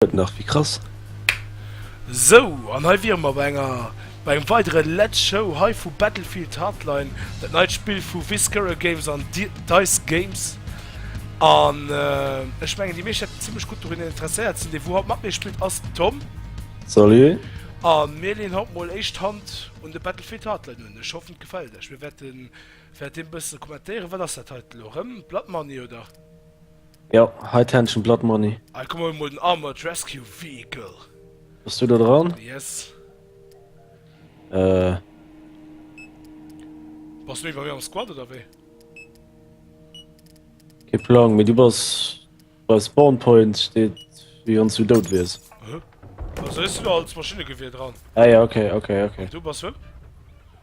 Gëtt nach méi krass. Sou, an hei wiere mer bei enger bei engem weidere Let's Show hei vu Battlefield Hardline, dat neit Spill vu Viscera Games an Dice Games. An ech mengen déi meescht hätten zimmlech gutt dorunner interesséiert sinn. Dee wou haut mat mir spillt ass den Tom. Salut. A mir leeën haut mol éischt d'Hand un de Battlefield Hardline un. Ech hoffen et gefält iech. Mir wäerte wäert dee bësse kommentéieren. Wat ass dat heiten elo? Rëm Blood Money oder? Jo, hei d'Händchen Blood Money. Hei komm huel mol den Armored Rescue Vehicle. Bass du do dran? Yes. Äh. Bass du iwwer mir am Squad oder wéi? Kee Plang, mee du bass bei Spawn Point steet wéi wanns du dout wiers. Aha. Wéi soll ech do als Maschinnegewier dran? Ah jo, okay, okay, okay. An du bass wem?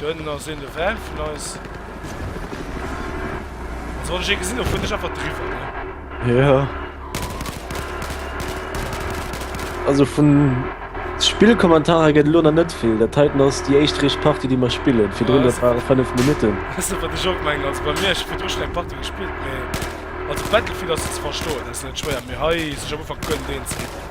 Dënn ass een de Van vun eis. Also wann ech ee gesinn hu fueren ech einfach driwwer ne. Jo. Also vun Spillkommentarer gëtt elo nach net vill. Dat heiten ass déi éischt richt Partie déi mer spillen. Virdrun dat ware 5 Minutten. Weiss net wat ech och mengen. Also bei mir ech hu virdru schonn eng Partie gespillt mee also Battlefield ass ze verstoen, dat ass net schwéier mee hei sech am Ufank Gëllen deen ze ginn.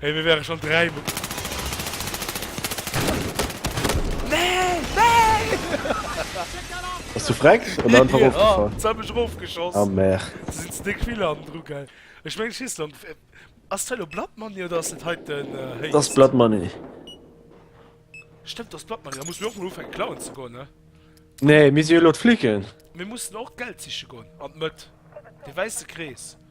Hey, mir wären schon dräi Mo Nein! Nein! Ass du freck? Oder einfach Ja, ofgefall? se hu mech erofgeschoss. Ah, mer. Se sinn ze déck vill an dru gell. Ech mengen, ech schiess lo an d'. Ass dat elo Blood Money oder ass dat hei den Héichst? Dat ass Blood Money. Stëmmt, dat ass Blood Money. Da musse mir och mol ufänken klauen ze goen, ne? Nee, mir si jo elo d'Flicken. Mir mussen och d'Geld siche goen. An d'Mëtt. De wäisse Krees.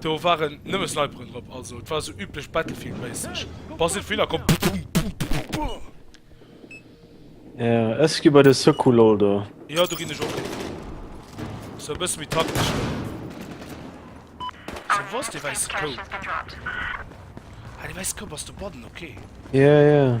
Do waren nëmme Sniperen drop, also et war sou üblech Battlefield méisseg, bass net vill a komm bum bum bum bum. Yeah, ech gi bei de Secours lol do. Jo, do ginn ech och hin. Sou e bësse méi taktesch lol. Sou, wou ass dee wäisse Koup? Ah, dee wäisse Koup ass do bannen, ok. Yeah, yeah.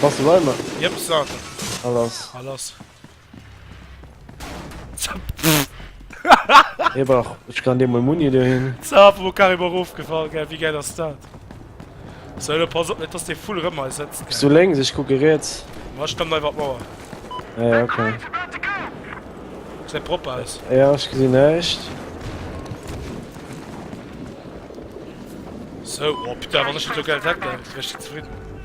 Bass de bei mer? Jep, Sarge. Al ass. Al ass. Hie brauch. Ech kann dir mol Muni dohin. Zap, wor carrément erofgefall, gell? Wéi gäil ass dat? So, lo pass op net, dass dee Vull rëm hei sëtzt, gell? Bis du lénks, ech kucke riets. Ma ech stëmm nei iwwer d'Mauer. Ja, ja, okay. Gesäit propper aus. Ja, ech gesinn näischt. So, oh putain, wann ech net esou gäil Decken, wär ech zefridden.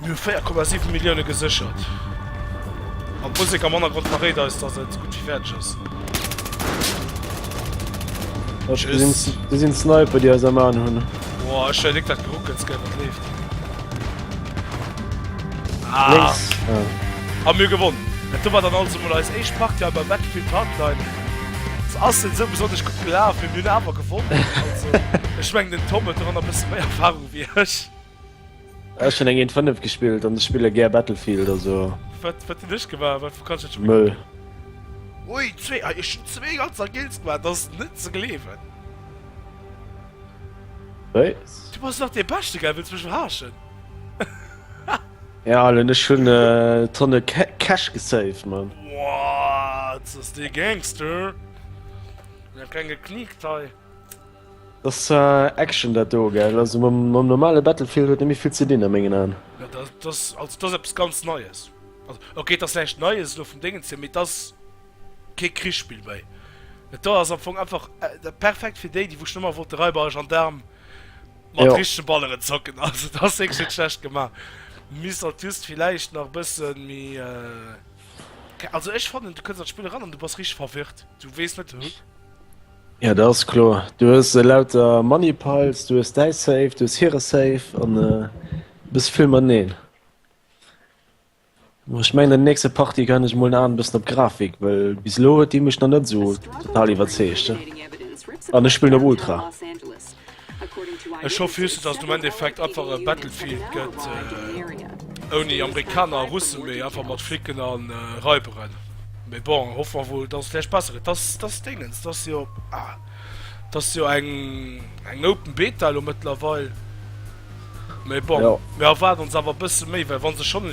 Mir hu 4,7 Millioune geséchert an d'Musek am Hannergrond verréit eis, dass et gutt wéi fäerdeg ass. Tschüss. Déi sinn d'Sniper, déi eis am Aen hunn. Boah, ech wär Léck dat Geruckels gär, wat leeft. Ah! Hu mir gewonnen! Et do war dann also mol eis éischt Partie hei bei Battlefield Hardline. Se ass net esou besonnesch gutt gelaf, mee mir hunn awer gewonnen. Also, ech mengen, den Tom huet doranner e bësse méi Erfahrung. Wéi ech. Ech hunn eng 1 5 gespillt an ech spille gär Battlefield also. Wat wat hunn ech gemaach? Wat kann ech schon. Mëll. Ui zwee ah ech hunn zwee ganzer Kills gemaach, dat ass net ze gleewen. Wéis? Du bass nach dee beschte gell, wëlls mech verarschen? Ja Allen ech hunn Tonne Ca Cash gesaved Mann. Woaat ass dee Gangster. Ech hunn nach keng gekniekt hei. Ass Action dat do gell? Also mam normale Battlefield huet net méi vill ze dinn a mengen Aen. Jo dat ass ass also dat ass eppes ganz neies. Also ok et ass näischt neies elo vum Déngens hier mee et ass kee Krichsspill méi. Et do ass am Fong einfach dat perfekt fir déi déi wou schon ëmmer wollte Raiber a Gendarm mat richtege Balleren zocken. Also et ass wierklech net schlecht gema. Misst alt just villäicht nach e bësse méi ke also ech fannen du kënns an d'Spill eran an du bass richteg verwirrt. Du weess net, hu. Ja dat ass kloer. Du hues elauter Moneypiles, du hues däi Safe, du hues hire Safe an e bësse vill mateneen. Mä ech mengen an der nächster Partie kann ech mol en aen bëssen op Grafik, well bis elo huet déi mech nach net esou total iwwerzeegt. An ech spillen op Ultra. Los Angeles. Ech hoffen just dass den Endeffekt einfach e Battlefield gëtt ouni Amerikaner a Russen, mee einfach mat Flicken a Raiberen. Mee bon, hoffe mer wuel, dass et lech besser gëtt. Dass, dass Dingens, dass jo, ah, dass jo eng, eng Open Beta lo mëttlerweil. Mee bon, mir erwaarden ons awer e bësse méi, well wa se schonn,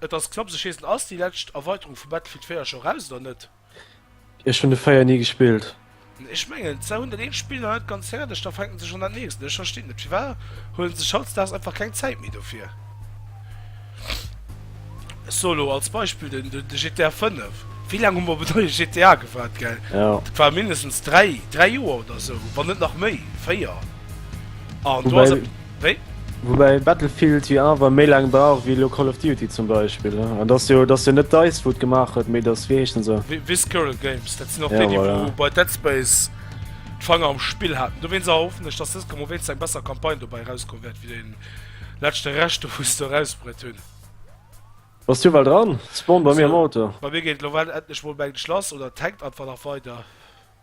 Et ass knapps ech wees net ass déi läscht Erweiterung vu Battlefield 4 scho raus oder net? Ech hunn de 4 ni gespillt. Ech mengen se hunn dat eent Spill nach net ganz fäerdeg, da fänken se schonn dat nächst un. Ech verstinn net firwat huelen se sech hautzdaags einfach keng Zäit méi dofir. Solo als Beispill den de GTA 5. Wéi laang hu mer op en neie GTA gewaart gell? Dat war mindestens 3 3 Joer oder esou, wann net nach méi 4 an do ass. Wéi? Woubäi Battlefield jo awer méi laang brauch wéi elo Call of Duty zum Beispill, ne? An et ass jo, et ass jo net Dice wou et gemaach huet, mee et ass, wéi heeschen se? Visceral Games, dat sinn och déi, déi wou bei Dead Space d'Fanger am Spill haten. Dowéinst erhoffen ech, datt dës Kom owéinst eng besser Campagne dobäi erauskomm wäert wéi déi leschte Rescht do wou se se erausbruet hunn. Bass du ewell dran? Spawn bei mir am Auto. Bei mir geet et elo ewell endlech mol mengen ech lass, oder tankt einfach nach weider?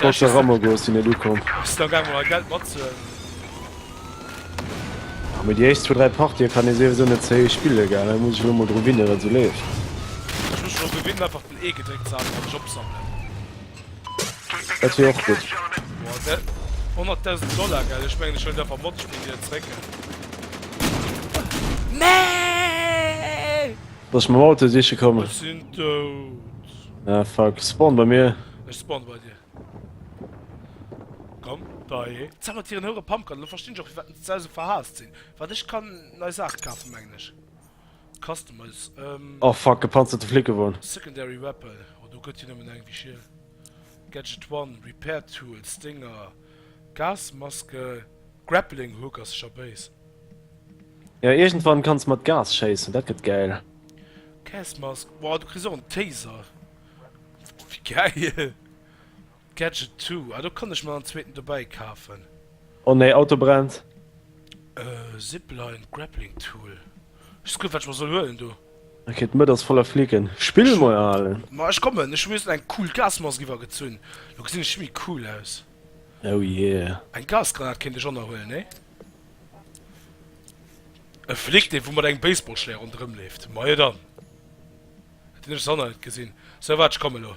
Soll der Rammer goen, sinn net ukomm. Bist du gang mol Geld mat ze. Ah, mit die echt zu drei Party kann is sowieso net ze héich spille gell, da muss ich lo mol dru winnen, dat se leeft. Ich muss schon gewinnen, einfach den E gedréckt ze haben, Job sammeln. Dat wär och gut. 100.000 Dollar gell, ich mengen ich will einfach Mod spielen, die zrécken. Nee! Soss mam Auto siche kommen. Ech sinn dout. Ah fuck, spawn bei mir. Ech spawn bei dir. Komm, Bae. Zauber Tieren houere Pumpgun, elo verstinn ech och firwat se esou verhaasst sinn. Waart ech kann nei Saache kafen mengen ech. Customize, ehm. Oh fuck, gepanzerte Flickewon. Secondary Weapon, oh do gëtt jo nëmmen eng wéi Schiel. Gadget one, Repair Tools, Dinger. Gasmaske Grappling Hook ass scho béis. Jo iergendwann kanns mat Gas schéissen, dat gëtt gäil. Gasmask wow du kriss och en Taser, wéi gäil. Gadget Two ah do kann ech mer en zweeten dobäi kafen. Oh nee Auto brennt. Zipline Grappling Tool Just kucken, wat ech mer soll huelen do. Ok, d'Mëtt ass voller Flicken. Spill mol al! Ma ech kommen, ech hu mir just eng cool Gasmask iwwergezunn. Lo gesinn ech méi cool aus. Oh yeah. Eng Gasgranat kéint ech och nach huelen, nee? E Flick, dee wou mat engem Baseballschléier ronderëm leeft. Majo dann. Dat hunn ech soss och nach net gesinn. Sou, waart, ech komme lo.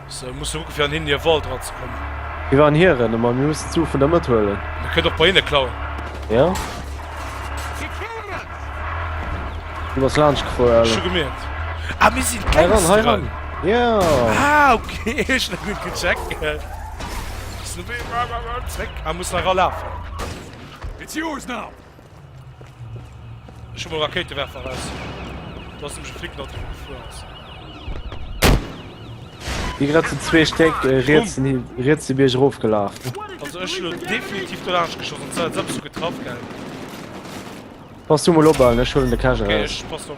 Se musse kucke fir an hinnen hir Wald eran ze kommen. Wéi war en hieren? Ëmmer mir mussen zu vun der Mëtt huelen. Dir kënnt och bei hinne klauen. Jo. Du bass laanscht gefuer, Ech hu Ellen. gemeent. Ah, mir sinn Hei ran, hei d'Gangsteren. ran. Jo. Ah, okay, ech hunn dat net gecheckt. Zréck a muss nach eralafen. It's yours now! Ech hu mol Rakéitewerfer aus. Du hast mech Flick dat gefu ass. Wie grad zu zwee Steck äh, riets den- riets de Bierg rofgelaf. Also ech lo definitiv do lasch geschossen. Zwar als absolut getraff gell. Pass du mol op, Allen, ech huelen de Cache Okay, raus. ich pass op.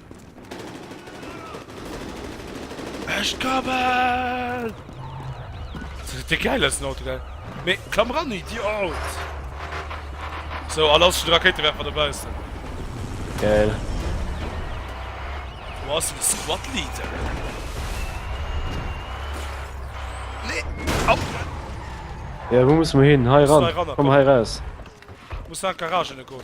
Ech kommen! De geil ass den Auto, gell? Mee, klamm ran, Idiot! So, a lass den Raketewerfer dobaussen. Geil. Du ass den Squad Leader. Nee, ab! Ja, wou muss mer hin? Hei ran. Komm hei raus. Muss nach an d'Garage goen.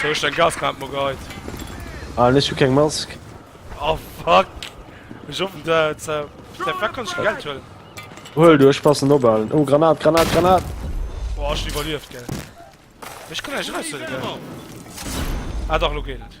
Sou ech deng Gasmaat mer geit. Ah ech hu keng Mask. Oh fuck! Ech offen der Zau. Dei fuck kann ech Geld huelen? Huel du ech passen ophaalen. Oh Granat Granat Granat! Boah ech hun iwwerlieft gell. Ech kann eis eraus huelen gell? Ah dach lo geet et.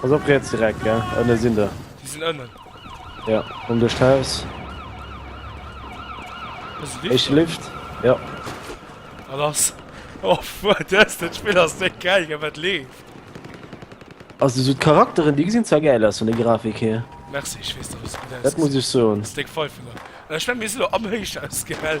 Pass op riets direkt gell, ënne sinn der. Déi sinn ënnen. Ja, komm duerch d'Haus. Ech lift, ja. An ass oh fuck, dës den Spill ass net gäil, gell wat leeft. Also sou d'Charakteren déi gesinn zwar gäil aus vun der Grafik hier. Merci, ech weess dass et gutt ausgesäit. Dat muss ech soen. Ass déck Pfeifen nach. Ech mengen mir sinn elo am Héichhaus gell.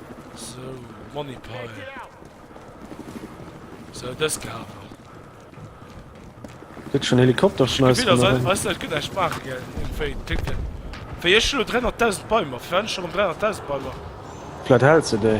Sou, Money Pile. Sou, dës kafen. Kritt schon Helikopter schon eis vun erem. Weiss net, ech gëtt näischt maachen gell, um Véi ticken. Wéi ech elo 300.000 Beimer, fir wat ech erem 300.000 Beimer? Vläit hält se déi.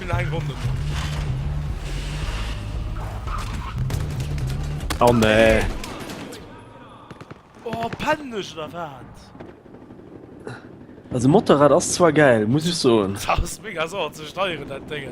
Spill eng Ronn net mat. Oh nee. Oh, pennen ech oder wat? Also Motorrad ass zwar geil, muss ich soen. Das ass mega sauer ze steieren, dat Ding.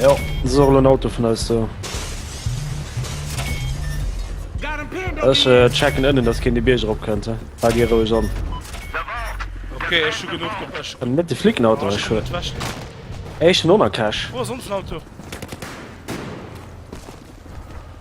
Jo, et ass och elo en Auto vun eis do. Ech checken ënnen, datt keen de Bierg erop kënnt, he? Fal dir roueg an. Ok, ech hu genuch Gepäck. An net de flicken Auto, ech hu éischten Onercash. Wou ass onsen Auto?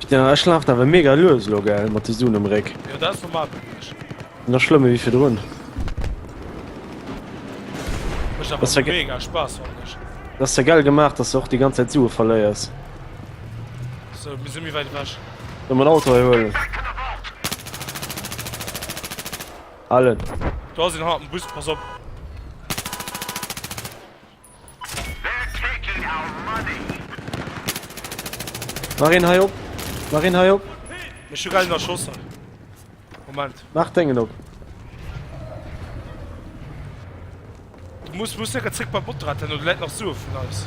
Putain ech laaft awer mega lues elo gell mat de Sun um Réck. Nach schlëmme wéi virdrun. Dat ass ja gell gemaach, dass de och déi ganz Zäit Sue verléiers. Soll mer en Auto hei huelen? Allen. Do ass een haarden Bus, pass op. Mach een hei op, mach een hei op. Ech hu grad een erschoss hei. Moment. Mach dengen op. Du muss muss secher zréck beim Motorrad hin, oder läit nach Sue vun eis.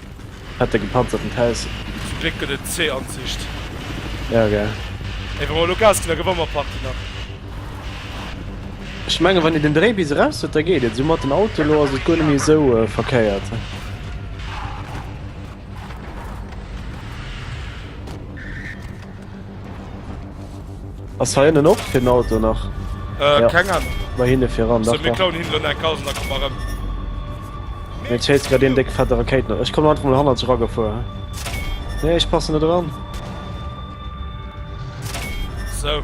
Hat e gepanzerten Tess. Zum Gléck gëtt et zwee Ansicht. Jo ok. Ey wa mer elo Gas ginn da gewann mer Party nach. Ech mengen wann een den Dréi bis eraus huet da geet et. Sou mat den Auto elo ass et guer net méi esou verkéiert. Ass hei ënnen och fir den Auto nach? Äh, ja. keng Ahnung. Bei hinne fir ran. So, mir klauen hinne eng Kars an da komm erëm. Mir chase grad den déck fette Rakéit noch. Ech komme einfach mal hanner zu raggefuer. Nee, ech passen net dran. So.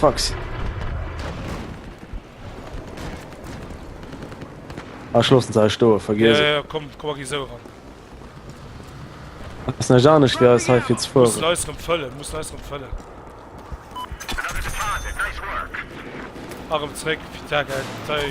Frax. Ah, ech loossen se hei stoen, vergiess et. Ja, ja, komm, komm, a gi esou eran. Ass näischt anescht wéi eis heifir ze fueren. Mussen eis erëm fëllen, mussen eis erëm fëllen. Erëm zréck, fir d'Aargel, Dei.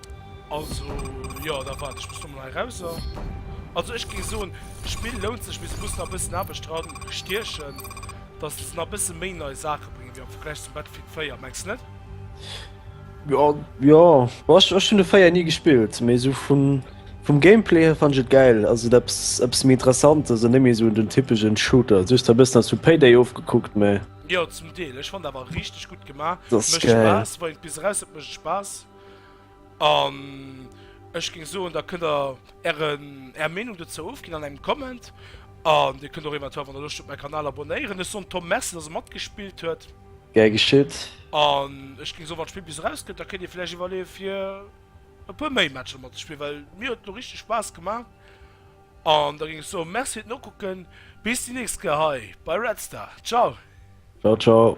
Also jo da waart ech bis dono hei rauser. Also ech géing soen d'Spill lount sech mee se muss nach e bëssen Aarbecht dran stiechen dass se nach e bësse méi nei Saache bréngen wéi am Vergläich zum Battlefield 4, mengs de net? Jo jo ech ech hunn de 4 ni gespillt mee esou vun vum Gameplay hier fand ech et gäil. Also et eppes eppes méi Interessantes an net méi esou den typegen Shooter. Just e bëssen ass vu Payday ofgekuckt mee. Jo zum Deel. Ech fand et awer richteg gutt gemaach. Dass gäil. Mécht Spaass, wei et bis eraus huet mécht et Spaass. An ech géing soen, da kënnt der ären, är Meenung dozou ofginn an engem Comment. An dir kënnt och eventuell, wann der Loscht hutt, mäi Kanal abonnéieren. Ech soen Tom Merci, dass e matgespillt huet. Gär geschitt. An ech géing soen, wann d'Spill bis erauskennt, da kënnt dir vläicht iwwerleeë fir e puer méi Matcher matzespillen, well mir huet et elo richteg Spaass gemaach. An da géing ech soen, Merci fir d'Nokucken. Bis déi nächst Kéier hei bei Red Star. Ciao. Ciao, ciao.